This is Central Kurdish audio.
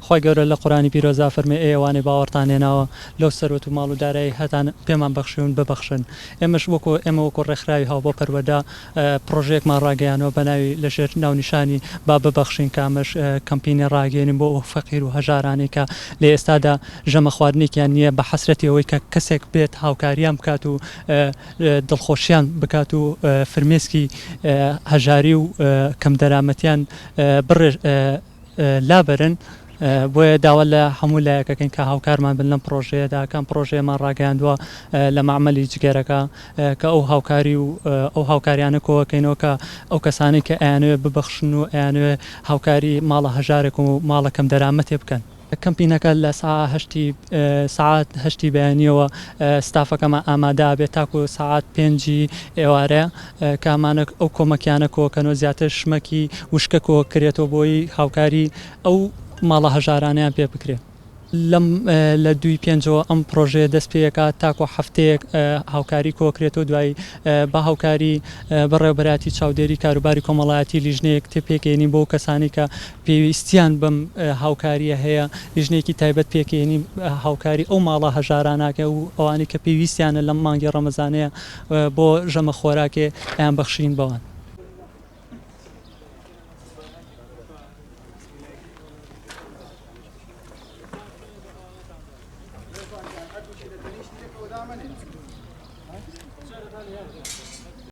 خوای گەورە لە قورئانی پیرۆزدا فەرمووی ئەی ئەوانەی باوەڕتان هێناوە لەو سەروەت و ماڵ و دارایەی هەتان پێمان بەخشیون ببەخشن ئێمەش وەکو ئێمە وەکو ڕێکخراوی هاوبەو پەروەردە پڕۆژەیەکمان ڕاگەیانەوە بە ناوی لە ژێر ناونیشانی با ببەخشین کە ئەمەش کەمپینی ڕاگەیەنین بۆ ئەو فەقیر و هەژارانەی کە لە ئێستادا ژەمە خواردنێکیان نییە بە حەسرەتی ئەوەی کە کەسێک بێت هاوکاریان بکات و دڵخۆشیان بکات و فرمێسکی هەژاری و کەم دەرامەتیان بڕێژ لابەرن، بۆیە داوا لە هەموو لایەک ئەکەین کە هاوکارمان بن لەم پڕۆژەیەدا، کە ئەم پڕۆژەیەمان ڕاگەیاندووە لە مەعمەلی جگەرەکە، کە ئەو هاوکاری و ئەو هاوکاریانە کۆکەینەوە کە ئەو کەسانەی کە ئەیانەوێت ببەخشن و ئەیانەوێت هاوکاری ماڵە هەژارێک و ماڵە کەم دەرامەتێ بکەن. کەمپینەکە لە سا هەشتی سەعات هەشتی بەیانیەوە ستافەکەمان ئامادە ئەبێت تاکو سەعات پێنجی ئێوارە، کامانە ئەو کۆمەکیانە کۆکەنەوە زیاتر شمەکی وشکە کۆکرێتەوە بۆی هاوکاری ئەو ماڵە هەژارانەیان پێ بکرێ. لەم لە دووی پێنجەوە ئەم پرۆژەیە دەست پێکات تاکۆ هەفتەیەک هاوکاری کۆکرێتەوە دوای بە هاوکاری بەڕێوبەراتی چاودێری کاروباری کۆمەڵایەتی لیژنەیەک تێ پێکێنی بۆ کەسانی کە پێویستیان بەم هاوکاریە هەیە لیژنەیەکی تایبەت پێکێنی هاوکاری ئەو ماڵە هەژاراناکە و ئەوانەی کە پێویستیانە لەم مانگی ڕەمەزانەیە بۆ ژەمە خۆراکێ ئەیان بەخشین بەوان.